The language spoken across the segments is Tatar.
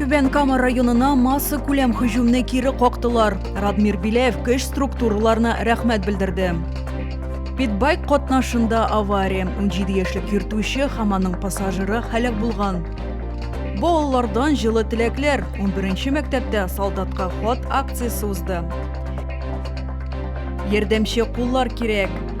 Түбән Кама районына масса күләм һөҗүмне кире коктылар. Радмир Билев көч структураларына рәхмәт белдерде. Питбайк катнашында авария. 17 яшьлек йөртүче һәм аның пассажиры һәлак булган. Балалардан җылы теләкләр. 11 мәктәптә солдатка хат акциясе узды. Ярдәмче куллар кирәк.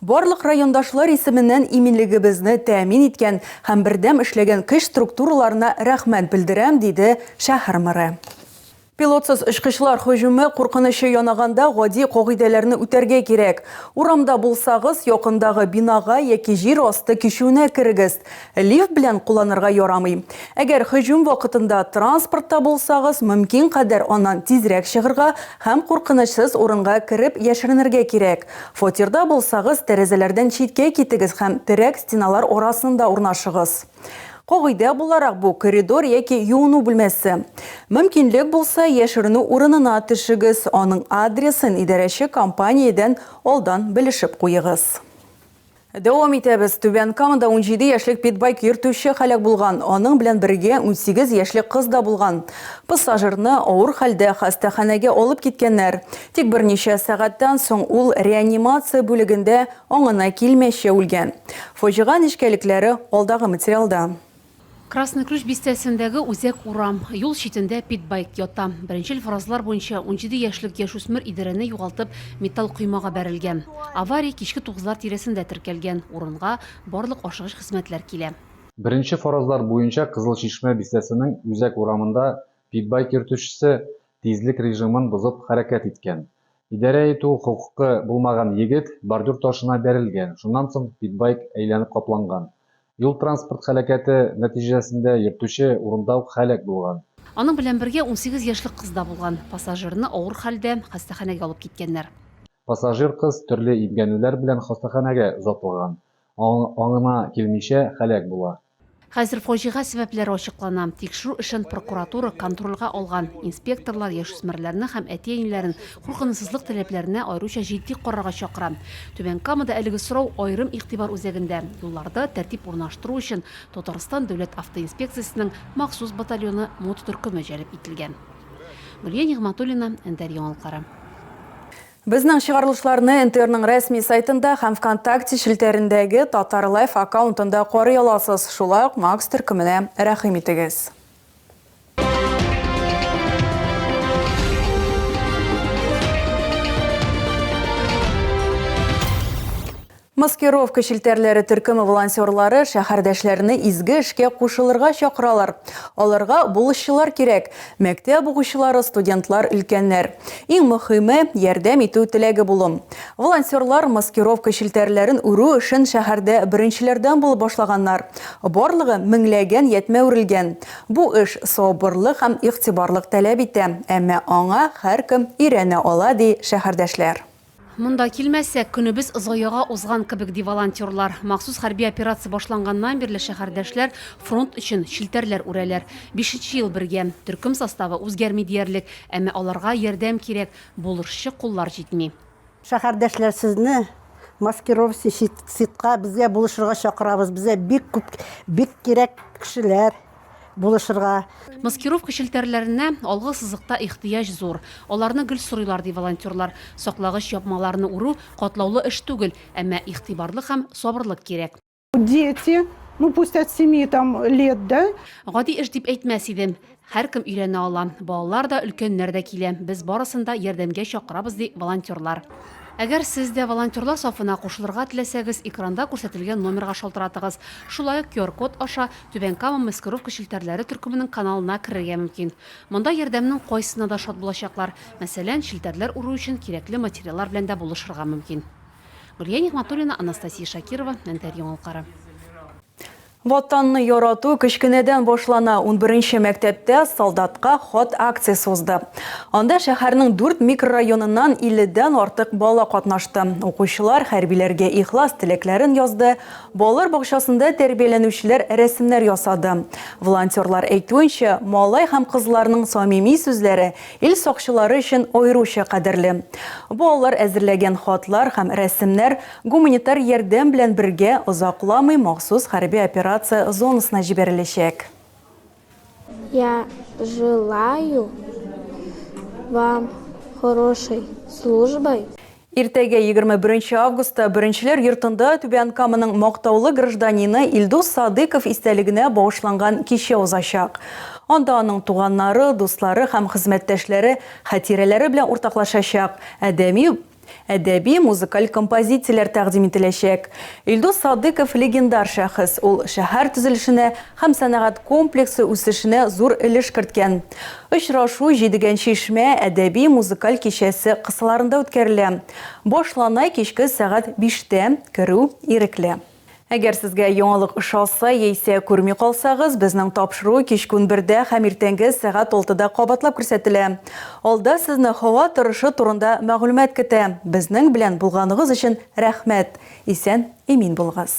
Барлык райондашлар исеменнән иминлегебезне тәэмин иткән һәм бердәм эшләгән көч структураларына рәхмәт белдерәм, диде шәһәр мэры. Пилотсыз очкычлар һөҗүме куркынычы янаганда гади кагыйдәләрне үтәргә кирәк. Урамда булсагыз, якындагы бинага яки җир асты кичүенә керегез. Лифт белән кулланырга ярамый. Әгәр һөҗүм вакытында транспортта булсагыз, мөмкин кадәр аннан тизрәк чыгырга һәм куркынычсыз урынга кереп яшеренергә кирәк. Фатирда булсагыз, тәрәзәләрдән читкә китегез һәм терәк стеналар арасында урнашыгыз. Кагыйдә буларак, бу, коридор яки юыну бүлмәсе. Мөмкинлек булса, яшеренү урынына төшегез, аның адресын идарәче компаниядән алдан белешеп куегыз. Дәвам итәбез. Түбән Камада унҗиде яшьлек питбайк йөртүче һәлак булган. Аның белән бергә унсигез яшьлек кыз да булган. Пассажирны авыр хәлдә хастаханәгә алып киткәннәр. Тик берничә сәгатьтән соң ул реанимация бүлегендә аңына килмичә үлгән. Фаҗига нечкәлекләре алдагы материалда. Красный Ключ бистәсендәге үзәк урам, юл читендә питбайк ята. Беренчел фразалар буенча унҗиде яшьлек яшүсмер Идарәне югалтып, металл коймага бәрелгән. Авария кичке тугызлар тирәсендә теркәлгән, урынга барлык ашыгыч хезмәтләр килә. Беренче фразалар буенча Кызыл Чишмә бистәсенең үзәк урамында питбайк йөртүчесе тизлек режимын бозып хәрәкәт иткән. Идарә итү хокукы булмаган егет бордюр ташына бәрелгән, шуннан соң питбайк әйләнеп капланган. Юл-транспорт һәлакәте нәтиҗәсендә йөртүче урында ук һәлак булган. Аның белән бергә унсигез яшьлек кыз да булган. Пассажирны авыр хәлдә хастаханәгә алып киткәннәр. Пассажир кыз төрле имгәнүләр белән хастаханәгә озатылган, аңына килмичә һәлак була. Хәзер фаҗига сәбәпләре ачыклана. Тикшерү эшен прокуратура контрольгә алган. Инспекторлар яшүсмерләрне һәм әти-әниләрен Куркынычсызлык таләпләренә аеруча җитди карарга чакыра. Түбән Камада әлеге сорау аерым игътибар үзәгендә. Юлларда тәртип урнаштыру өчен Татарстан Дәүләт автоинспекциясенең махсус батальоны мототөркеме җәлеп ителгән. Гөлия Нигъмәтуллина, НТР яңалыклары. Безнең чыгарылышларны НТРның рәсми сайтында һәм Вконтакте челтәрендәге Татарлайф аккаунтында карый аласыз, шулай ук Макс төркеменә рәхим итегез. Маскировка челтәрләре төркеме волонтерлары шәһәрдәшләрне изге эшкә кушылырга чакыралар. Аларга булышчылар кирәк, мәктәп укучылары, студентлар, өлкәннәр. Иң мөхиме, ярдәм итү теләге булу. Волонтерлар маскировка челтәрләрен үрү эшен шәһәрдә беренчеләрдән булып башлаганнар. Барлыгы меңләгән ятьмә үрелгән. Бу эш сабырлык һәм игътибарлык таләп итә, әмма аңа һәркем өйрәнә ала, ди шәһәрдәшләр. Монда килмәсәк, көнебез заяга узган кебек, ди волонтерлар. Махсус хәрби операция башланганнан бирле шәһәрдәшләр фронт өчен челтәрләр үрәләр. Бишенче ел бергә. Төркем составы үзгәрми диярлек, әмма аларга ярдәм кирәк, булышчы куллар җитми. Шәһәрдәшләр сезне маскировщи щит щитка безгә булышырга чакырабыз. Безгә бик күп бик кирәк кешеләр булышырга. Маскировка челтәрләренә алгы сызыкта ихтыяҗ зур. Аларны гел сорыйлар, ди волонтерлар. Саклагыч ябмаларны үрү катлаулы эш түгел, әмма игътибарлык һәм сабырлык кирәк. Дети, ну пусть от семи там лет, да? Гади эш дип әйтмәс идем. Һәркем өйрәнә ала. Балалар да, өлкәннәр дә килә. Без барысын да ярдәмгә чакырабыз, ди волонтерлар. Әгәр сез дә волонтерлар сафына кушылырга теләсәгез, экранда күрсәтелгән номерга шалтыратыгыз. Шулай ук QR-код аша Түбән Кама маскировка челтәрләре төркеменең каналына керергә мөмкин. Монда ярдәмнең кайсына да шат булачаклар. Мәсәлән, челтәрләр үрү өчен кирәкле материаллар белән дә булышырга мөмкин. Гөлия Нигъмәтуллина, Анастасия Шакирова, Нтр яңалыклары. Ватанны ярату кечкенәдән башлана. Унберенче мәктәптә солдатка хат акциясе узды. Анда шәһәрнең дүрт микрорайоныннан 50 дән артык бала катнашты. Укучылар хәрбиләргә ихлас теләкләрен язды. Балалар бакчасында тәрбияләнүчеләр рәсемнәр ясады. Волонтерлар әйтүенчә, малай һәм кызларның самими сүзләре Ил сакчылары өчен аеруча кадерле. Бу алар әзерләгән хатлар һәм рәсемнәр гуманитар ярдәм белән бергә озакламый махсус хәрби операция зонасына җибәреләчәк. Я желаю вам хорошей службы. Иртәгә, егерме беренче августта, Беренчеләр йортында Түбән Каманың мактаулы гражданины Илдус Садыйков истәлегенә багышланган кичә узачак. Анда аның туганнары, дуслары һәм хезмәттәшләре хатирәләре белән уртаклашачак, әдәми, әдәби, музыкаль композицияләр тәкъдим ителәчәк. Илдус Садыйков легендар шәхес, ул шәһәр төзелешенә һәм сәнәгать комплексы үсешенә зур өлеш керткән. Очрашу Җидегән чишмә әдәби-музыкаль кичәсе кысаларында үткәрелә. Башлана кичке сәгать биштә, керү ирекле. Әгәр сезгә яңалык ошаса яисә күрми калсагыз, безнең тапшыру кичке унбердә һәм иртәнге сәгать алтыда кабатлап күрсәтелә. Алда сезне һава торышы турында мәгълүмат көтә. Безнең белән булганыгыз өчен рәхмәт! Исән-имин булыгыз!